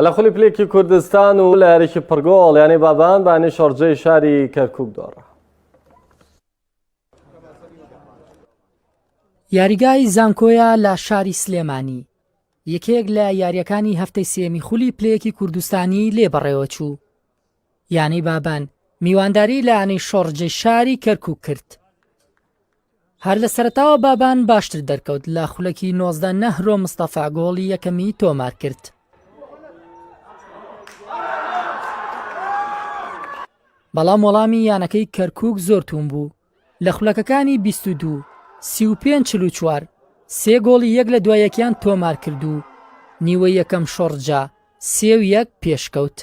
لە خولی پلێکی کوردستان و لە یاریکی پڕگۆڵ یانەی بابان بانی شەڕجەی شاری کەرکک دۆڕە یاریگای زانکۆیە لە شاری سلێمانی یەکێک لە یاریەکانی هەفتەی سێمی خولی پلەیەکی کوردستانی لێ بەڕێوەچوو یانەی بابان میوانداری لە یانەی شۆڕجی شاری کەرکوک کرد هەر لە سەرتاوە بابان باشتر دەرکەوت لە خولەکی نۆزدە نەهرۆ مستەفا گۆڵی یەکەمی تۆمار کرد بەڵام وەڵامی یانەکەی کەرکک زۆر توون بوو لە خولەکەکانی بیست و دوو، سی و پێنج، چل و چوار سێ گۆڵی یەک لە دوای یەکیان تۆمارکرد و نیوەی یەکەم شۆڕجا سێ و یەک پێشکەوت.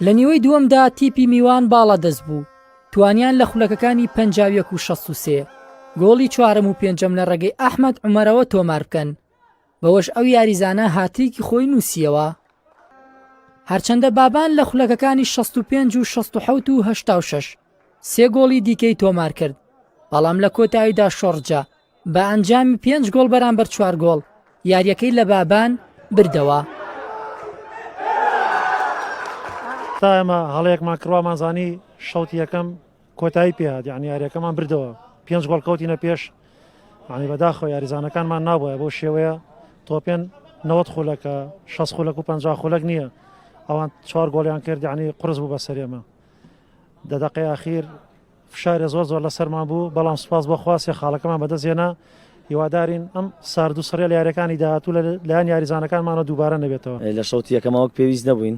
لە نیوەی دووەمدا تیپی میوان باڵادەست بوو، توانیان لە خولەکەکانی پەنجا و یەک و شەست و سێ، گۆڵی چوارەم و پێنجەم لە ڕێگەی ئەحمەد عومەرەوە تۆماربکەن، بەوەش ئەو یاریزانە هاتریکی خۆی نووسییەوە. هەرچەندە بابان لە خولەکەکانی 65 و 67 و 86 سێ گۆڵی دیکەی تۆمار کرد، بەڵام لە کۆتاییدا شۆڕجە بە ئەنجامی پێنج گۆڵ بەرامبەر چوار گۆڵ یارییەکەی لە بابان بردەوە. تا ئێمە هەڵەیەکمان کڕوامانزانی شەوتی یەکەم کۆتایی پێهات یعنی یاریەکەمان بردەوە پێنج گۆڵ کەوتینە پێش عنی بەداخۆ یاریزانەکانمان نابە بۆ شێوەیە تۆپێن نەوەت خولەکە شەست خولەک و پ خولەک نییە ئەوان چوار گۆڵیان کرد عنی قرس بوو بە سەرێمە دەدەقی ئاخیر فشارە زۆر زۆر لە سەرمان بوو بەڵام سوپاس بۆ خواستی خاڵەکەمان بەدەستێنا هیوادارین ئەم ساردو سڕێل یارەکانی داهاتوو لە لایەن یاریزانەکانمانە دووبارە نەبێتەوە لە شەوتیەکەماوەک پێویست نەبووین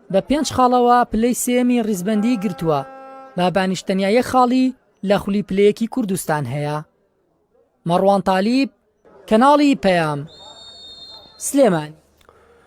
بە پێنج خاڵەوە پلەی سێیەمی ڕیزبەندیی گرتووە، بابانیش تەنیا یەک خاڵی لە خولی پلەیەکی کوردستان هەیە. مەڕوان تالیب، کەناڵی پەیام، سلێمانی.